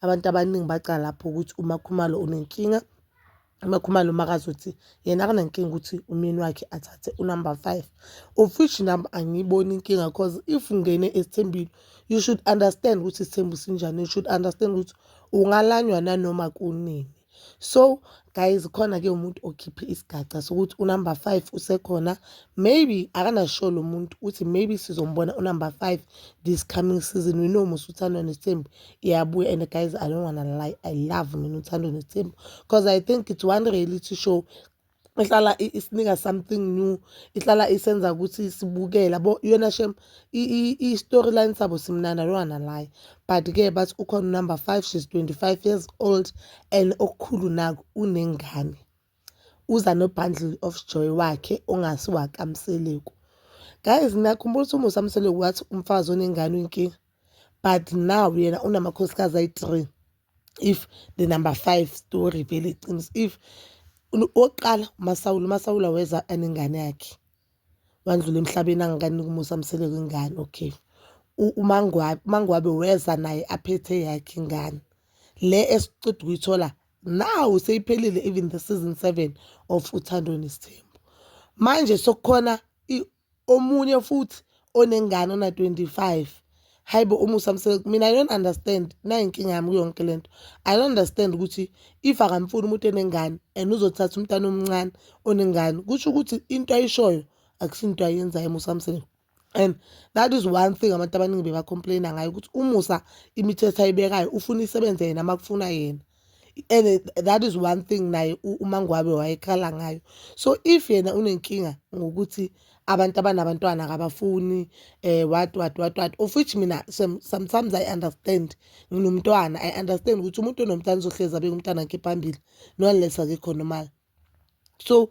abantu abaningi bacala lapho ukuthi umakhumalo unenkinga umakhumalo makazothi yena akanankinga ukuthi umyeni wakhe athathe unumber five of which nam angiyiboni inkinga because if ungene esithembile you should understand ukuthi isithembu sinjani you should understand ukuthi ungalanywa nanoma kunini so guys khona ke umuntu okhiphe isigaca sokuthi unumber five usekhona maybe akanasho lo muntu ukuthi maybe sizombona unumber five this coming season we know musa uthandwa nesithembu iyabuya and guys i don't wanna lie i love mina uthandwa nesithembu because i think it's one reality show ihlala isinika something new ihlala isenza ukuthi sibukela bo yona shem i-storyline sabo simnandi alwana laye but-ke bathi ukhona unumber five she's 25 years old and okukhulu naku unengane uza no-bundle of joy wakhe ongasiwakamseleku guys nakhumbula ukuthi umusa mseleku wathi umfazi onengane uyinkinga but now yena unamakhosikazi ayi-three if the number five story vele iqiniso if okokuqala umasawula umasawula weza anengane yakhe wandlula emhlabeni angikaniki umusa amsele kwingane okay umangwabe umangwabe weza naye aphethe yakhe ingane le esiqeda ukuyithola now seyiphelile even the season seven of uthando nesithembu manje sokukhona omunye futhi onengane ona-25 hhayi bo umusa mseleku mina i don't understand nayo inkinga yami kuyonke le nto i don't understand ukuthi if akamfuni umuntu enengane and uzothatha umntana omncane onengane kusho ukuthi into ayishoyo akusinto ayenzayo umusa mseleku and that is one thing abantu abaningi bebacomplaina ngayo ukuthi umusa imithetho ayibekayo ufuna isebenze yena uma kufuna yena and that is one thing naye umangwabe wayekhala ngayo so if yena unenkinga ngokuthi abantu abanabantwana kabafuni eh what what what what of which mina sometimes i understand nginomntwana i understand ukuthi umuntu onomntwana uzohlezi abeke umntwana wakhe phambili no unless akekho normal so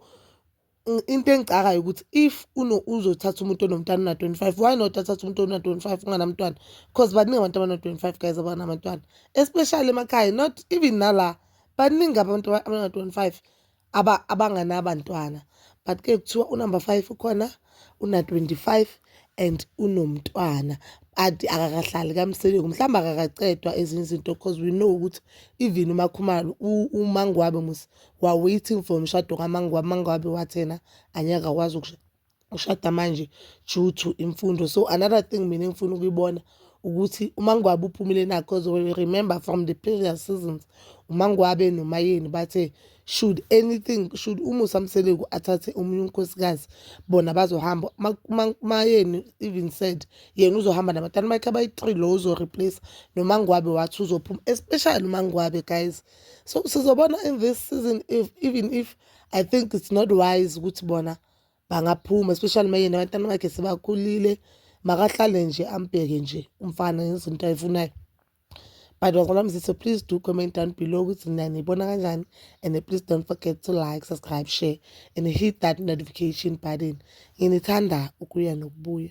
into engicakayo ukuthi if uno uzothatha umuntu onomntana una-25 why not athatha umuntu ona-25 unganamntwana because baningi abantu abana-25 guys abanamantwana especially emakhaya not even nala baningi abantu abana-25 abanganabantwana but ke kuthiwa unumber five ukhona una-25 and unomntwana ade akakahlali kamseleku mhlawumbe akakacedwa ezinye izinto because we know ukuthi even umakhumalo umangwabe musa While waiting for umshado kaMangwabi, Mangwabi wathi yena anyeke akwazi ukushada manje due to imfundo. So another thing mina engifuna ukuyibona ukuthi uMangwabi uphumile na because we remember from the previous seasons uMangwabe noMayeni bathe should anything should uMusa Mseleku athathe omunye unkosikazi bona bazohamba uMayeni even said yena uzohamba nabatana bakhe abayi-three lo uzo-replace noMangwabe wathi uzophuma especially uMangwabe guys so sizobona in this season if even if i think it's not wise ukuthi bona bangaphuma especially uma yena abantwana bakhe sebakhulile makahlale nje ambheke nje umfana ngezinto ayifunayo but wazalwa mzise please do comment down below ukuthi nina niyibona kanjani and please don't forget to like subscribe share and hit that notification button nginithanda ukuya nokubuya